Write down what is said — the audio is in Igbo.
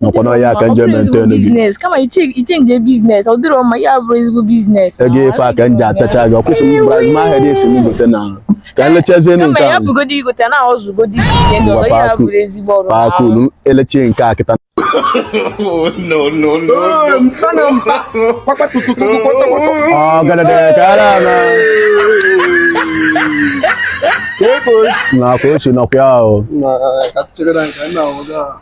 nakwa n'ọhịa aka nje maintain gị business kama ị che- ị change business ọ dịrọ mma ya bụrụ ezigbo business ego ife aka nje apịacha gị ọkwụsị m bụrụ azụma ahịa dị esi m gote na ka anyị lechazie nụ kama nke ya ahụ bụgodi igote na ọzụgodi ihe ndị ọzọ ya bụrụ ezigbo ọrụ paa kulu elechie nke a kịta ọ gadadere ka ara na nakwa ochi nakwa ya ahụ